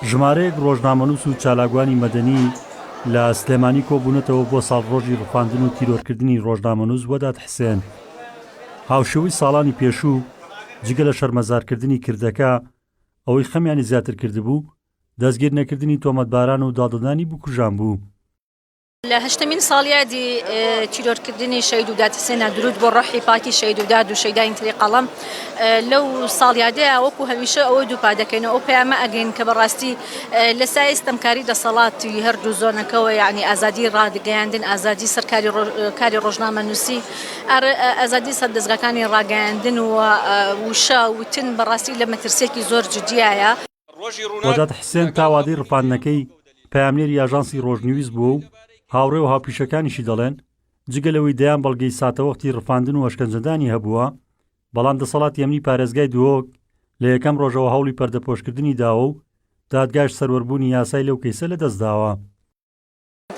ژمارەیەک ڕۆژنامەنووس و چالاکوانی مەدەنی لە سلێمانی کۆبوونەتەوە بۆ ساڵڕۆژی ڕفاندن و تیرۆرکردنی ڕۆژنامەنووس وەدات حسێن هاوشێوەی ساڵانی پێشوو جگە لە شەرمەزارکردنی کردەکە ئەوەی خەمیانی زیاتر کردبوو دەستگیرنەکردنی تۆمەتباران و داددانی بکوژان بوو لە هەشتەمین ساڵیادی تیرۆرکردنی شەید و داتسێنا درود بۆ ڕەحی پاکی شەید و داد و شەیداین تری قەڵم لەو ساڵیادەیە وەکو هەمیشە ئەوەی دووپا دەکەین ئەو پەیامە ئەگەین کە بەڕاستی لە سای ستەمکاری دەسەڵاتی هەردوو زۆنەکەەوە یعنی ئازادی ڕادگەیاندن ئازادی سەرکاری کاری ڕۆژنامە نووسی ئازادی سەر دەستگاکانی ڕاگەیاندن و وشە وتن بەڕاستی لە مەترسێکی زۆر جدیایە وەدات حسێن تا وادەی ڕفاندنەکەی پەیامنێری ئاژانسی ڕۆژنیوز بووە و هاوڕێ و هاوپیشەکانیشی دەڵێن، جگە لەوەی دەیان بەڵگەی ساتەوەختی ڕفاندن و ئەشکەنجەدانی هەبووە، بەڵام دەسەڵاتی ئەمنی پارێزگای دهۆک لە یەکەم ڕۆژەوە هەوڵی پەردەپۆشکردنی داوە و دادگاش سەروەربوونی یاسای لەو کەیسە لەدەستداوە.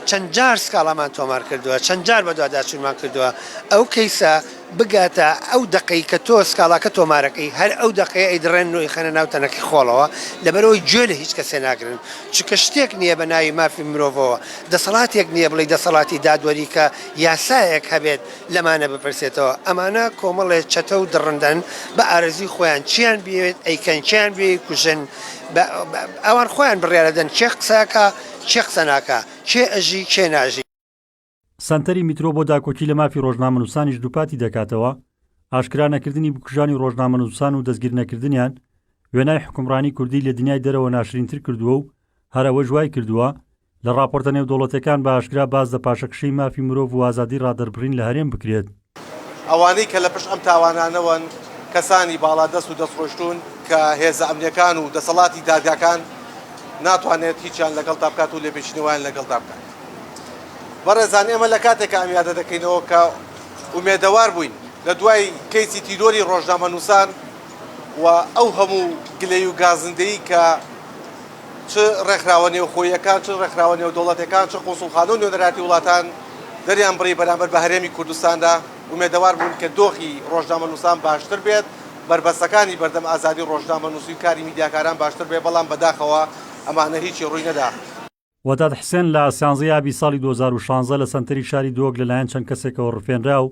چەند جار سکاڵامان تۆمار کردووە، چەند جار بەدواداچوونمان کردووە، ئەو کەیسە بگاتە ئەو دەقەی کە تۆ سکاڵاکە تۆمارەکەی، هەر ئەو دەقەیە ئەیدڕێنن و ئەیخەنە ناو تەنەکەی خۆڵەوە، لەبەرئەوەی گوێ لە هیچ کەسێ ناگرن، چونکە شتێک نییە بە ناوی مافی مرۆڤەوە، دەسەڵاتێک نییە بڵێی دەسەڵاتی دادوەری کە یاسایەک هەبێت لەمانە بپرسێتەوە، ئەمانە کۆمەڵێ چەتە و دڕندەن بە ئارەزووی خۆیان، چییان بیەوێت ئەیکەن، کێیان بیەوێت ئەیکوژن، ئەوان خۆیان بڕیارەدەن کێ قسەکا، کێ قسە ناکا کێ ئەژی کێ ناژی. سەنتەری میترۆ بۆ داکۆکی لە مافی ڕۆژنامەنووسانیش دووپاتی دەکاتەوە، ئاشکرا نەکردنی بکوژانی ڕۆژنامەنووسان و دەستگیرنەکردنیان، وێنای حوکمڕانی کوردی لە دنیای دەرەوە ناشرینتر کردووە و هەر ئەوەش وای کردووە، لە ڕاپۆرتە نێودەوڵەتییەکان بە ئاشکرا باس لە پاشەکشێی مافی مرۆڤ و ئازادی ڕادەربڕین لە هەرێم بکرێت. ئەوانەی کە لە پشت ئەم تاوانانەوەن کەسانی باڵادەست و دەستڕۆیشتوون کە هێزە ئەمنییەکان و دەسەڵاتی دادگاکان ناتوانێت هیچیان لەگەڵدا بکات و لێپێچینەی وایان لەگەڵدا بکات. بەڕێزان ئێمە لە کاتێکا ئەم یادە دەکەینەوە کە ئومێدەوار بووین لە دوای کەیسی تیرۆری ڕۆژنامەنووسان و ئەو هەموو گلەی و گازندەی کە چ ڕێکخراوە نێوخۆییەکان، چ ڕێکخراوە نێودەوڵەتێکان، چ قونسوڵخانە و نوێنەراتی وڵاتان دەریان بڕی بەرامبەر بە هەرێمی کوردستاندا، ئومێدەوار بوون کە دۆخی ڕۆژنامەنووسان باشتر بێت، بەربەستەکانی بەردەم ئازادی ڕۆژنامەنووسی و کاری میدیاکاران باشتر بێت، بەڵام بەداخەوە ئەمانە هیچی ڕووی نەدا. وەدات حسێن لە سیانزەی ئابی ساڵی دوو هەزار و شانزە لە سەنتەری شاری دهۆک لەلایەن چەند کەسێکەوە ڕفێنرا و